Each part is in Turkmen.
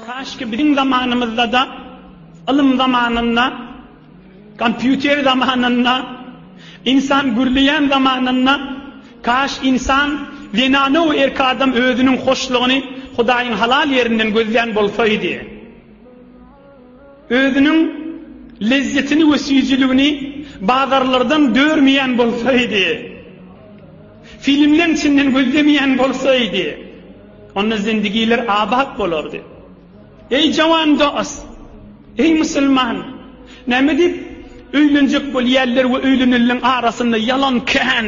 Kaşki biziň zamanymyzdada ylym zamanynda kompýuter zamanynda ynsan gürleýän zamanynda kaş ynsan zenana we erki adam özüniň hoşlugyny hudaýyň halal ýerinden gözlän bolsaýdy. Özüniň lezzetini we süýjüligini bazarlardan dörmeýän bolsaýdy, filmleň içinden gözlemeýän bolsaýdy, onda zindigiler abat bolardy. Eý jawan dost! Eý musulman! Näme diýip öýlenjek bolýarlar we öýlenenleriň arasynda ýalan kän?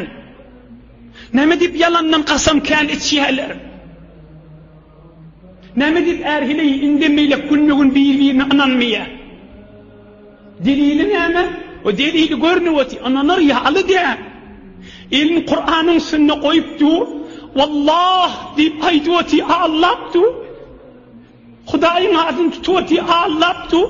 Näme diýip ýalandan kasam kän içýärler? Näme diýip är heleý indem beýläk günbe-gün bir-birine ynanmaýar? Delili näme? O delili görnüp otyr, ynanar ýaly däl. Elini Kuranyň üstünde goýup dur, Wallah diýip aýdyp otyr, aglap dur. Hudaýyň adyny tutup otyr, aglap dur.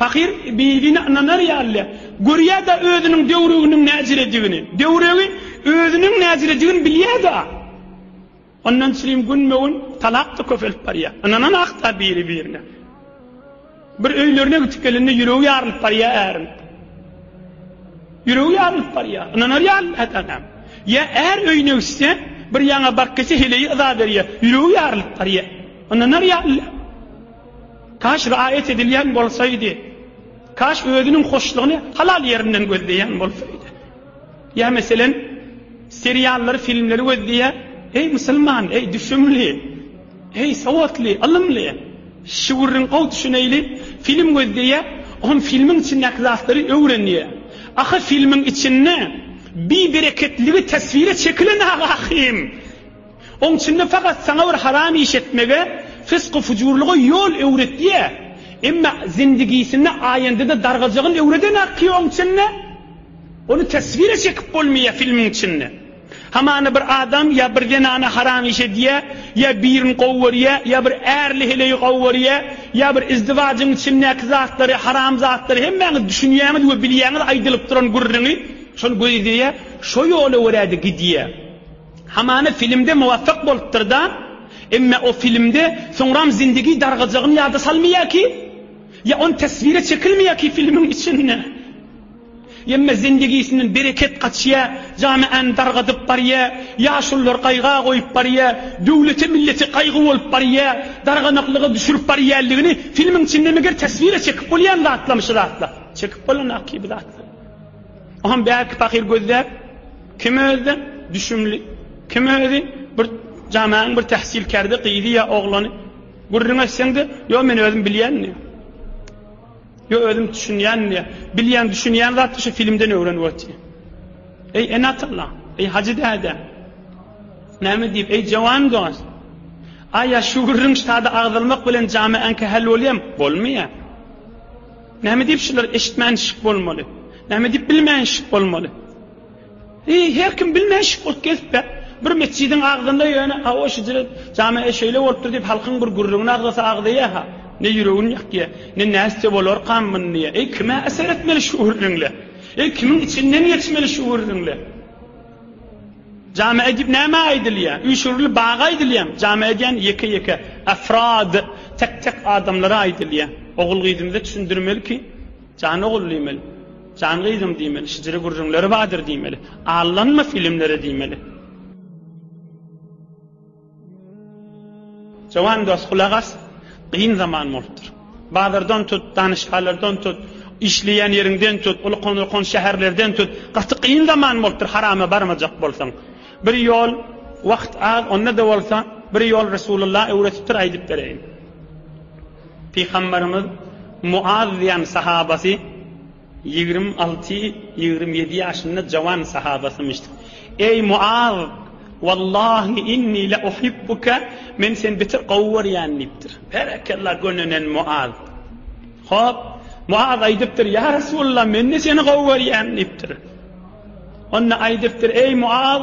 Pahyr Bibini ynanar ýaly görýär-de özüniň döwreginiň näjiredigini. Döwregi özüniň näjiredigini bilýär-de. Ondan çilim günbe-gün talap-da köpelip barýar. Ynananok-da biri-birine. Bir öýlerine gidip gelende ýüregi ýarylyp barýar äriň. Ýüregi ýarylyp barýar. Ynanar ýaly dälem. Ýa är öýüne gitse, bir ýaňa baryp gelse heleýi yza berýär. Ýüregi ýarylyp barýar. Ynanar ýaly däl. Kaş riayet edilýän bolsaydy, kaş özüniň hoşlugyny halal ýerinden gözleýän bolsaydy. Ýa meselen, seriallary, filmleri gözleýär, eý musulman, eý düşümli, eý sowatly, ylymly, şu gürrüň gowy düşüneýli, film gözleýär, on filmiň içindäki zatlary öwrenýär. Ahy filmiň içinde bibereketligi teswire çekilen-agy ahym! Oň içinde fakat saňa bir haram iş etmege, fysky-fujurlyga ýol öwretýä, emma zindigisinde aýandyda dargajygyn öwredenak ki oň içinde, ony teswire çekip bolmaýa filmiň içinde. Hamana bir adam ýa bir zenana haram iş edýä, ýa birin gowy görýä, ýa bir ärli heleýi gowy görýä, ýa bir izdiwajyň içindäki zatlary, haram zatlary hemmäňiz düşünýäňiz we bilýäňiz aýdylyp duran gürrüňi, şony gözleýä, şo ýola görä-de gidýä. Hamana filmde muwafak bolupdyrda emme o filmde soňram zindigi dargajagyn ýada salmaýa ki ýa on teswire çekilmaýa ki filmiň içinde emme zindigisinden bereket gaçýa jamiany dargadyp barýa ýaşulylar gaýga goýup barýa döwlete millete gaýgy bolup barýa darganaklyga düşürip barýaligini filmiň içinde meger teswire çekip bolýan zatlamyşy zatlar çekip bolana ki bu zatlar oham bärki pahyr gözläp Kim özde düşümli, kim özi bir jamaň bir tähsilkärde gyzy ýa oglany gürrüň etseňde, ýo men özüm bilýän diýýär. Ýo özüm düşünýän diýýär. Bilýän, düşünýän zat şu filmden öwrenip otyr. Eý enatalla, eý hajy däde. Näme diýip, eý jawan dost. Aýa şu gürrüň ştada agzalmak bilen jamy ankahal bolýam, bolmaýar. Näme diýip şular eşitmän şik bolmaly? Näme diýip bilmän şik bolmaly? Eý, her kim bilmän şükürt gezip-ä, bir metjidiň agzynda ýöne, Hawa, şu jire jame-e şeýle bolupdyr diýip, halkyň bir gürrüňini agzasa agzaýa-ha. Ne ýüregini ýakýa, ne nätse bolarkam mundy-a. Eý, kime-ä seretmeli şu gürrüňle? Eý, kimiň içinden geçmeli şu gürrüňle? Jame-e diýip nämä aýdylýa? Üýşürili baga aýdylýamy? Jame-e diýen ýeke-ýeke, afrad, tek-tek adamlara aýdylýa. Ogul-gyzymyza düşündirmeli ki, Jan ogul diýmeli. Jan gyzym diýmeli. Şijiri gürrüňleri badyr diýmeli. Allanma filmlere diýmeli. Jowan dos gulak as, gyn zaman bolupdyr. Bazardan tut, danyşgalardan tut, işleýän ýeriňden tut, uly konurkan şäherlerden tut, gaty gyn zaman bolupdyr harama barmajak bolsaň. Bir ýol, wagt az, onda-da bolsa bir ýol Resulullah öwretipdir aýdyp bereýin. Pygamberimiz Muaz diýen sahabasy ýigrimi alty, ýigrimi ýedi ýaşynda jawan sahabasymyş. Eý Muaz! Wallahi inni la uhibbuke, men seni beter gowy görýän diýipdir. Berekella gönenen Muaz. Hop, Muaz aýdypdyr, ýa Resulullah men-de seni gowy görýän diýipdir. Onda aýdypdyr, eý Muaz!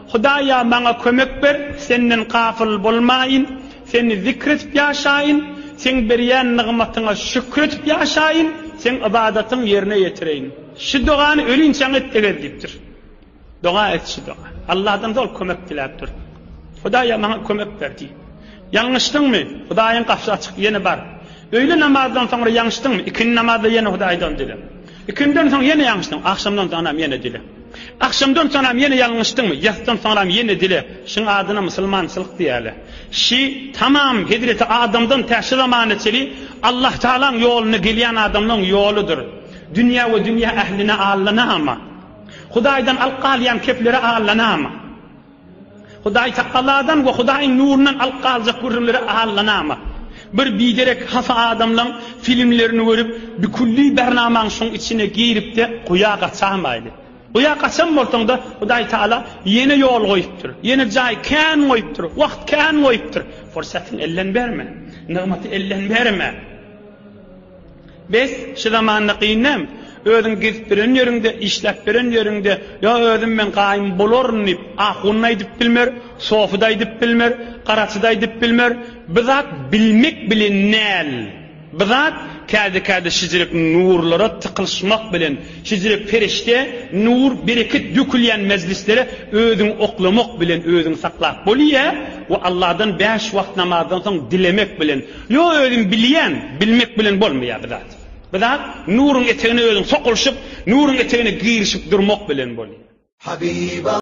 Hudaýa maňa kömek ber, Senden gafyl bolmaýyn, Seni zikr edip ýaşaýyn, Seň berýän nygmatyňa şükür edip ýaşaýyn, Seň ybadatyň ýerine ýetireýin. Şu dogany ölinçäň et egez diýipdir. Doga et şu doga. Allahdan zol kömek diläp dur. Hudaýa maňa kömek ber diý. Ýalňyşdyňmy? Hudaýyň gapysy açyk, ýene bar. Öýle namazdan soňra ýaňşdyňmy? Ikindi namazda ýene Hudaýdan dile. Ikindinden soň ýene ýalňyşdyň. Agşamdan soňram ýene dile. Agşamdan soňram ýene ýalňyşdyňmy? Ýatdan soňram ýene dile. Şuň adyna musulmançylyk diýäle. Şi, tamam, hezreti Adamdan tä şu zamana çeli Allahtagalaň ýoluna gelýän adamlaň ýoludyr. Dünýä we dünýä ähline allanama. Hudaýdan alyp galýan keplere allanama. Hudaýtagaladan we Hudaýyň nurundan alyp galjak gürrüňlere allanama. Bir biderek hafa adamlaň filmlerini görüp, bikülli Bernamaň şuň içine girip-de guýa gaçamaýly. Guýa gaçan bolsaň-da, Hudaýtagala ýene ýol goýupdyr, ýene jaý kän goýupdyr, wagt kän goýupdyr. Pursatyňy elden berme. Nygmaty elden berme. Bes, şu zamanda gyn näm? Özüň gezip biren ýeriňde, işläp biren ýeriňde, Ýa özüm men gaýym bolaryn diýip, ahun-da aýdyp bilmer, sofy-da aýdyp bilmer, garaçy-da aýdyp bilmer. Bu zat bilmek bilen näl? Bu zat käde-käde şijirek nurlara tykylyşmak bilen, şijirek perişde, nur, bereket dökülýän mejlislere özüňi oklamak bilen özüňi saklap bolýa we Allahdan bäş wagt namazdan soň dilemek bilen. Ýok özüm bilýän, bilmek bilen bolmaýar bir zat. Bir zat nuryň etegine özüň sokulyşyp, nuryň etegine girişip durmak bilen bolýar. Habiba.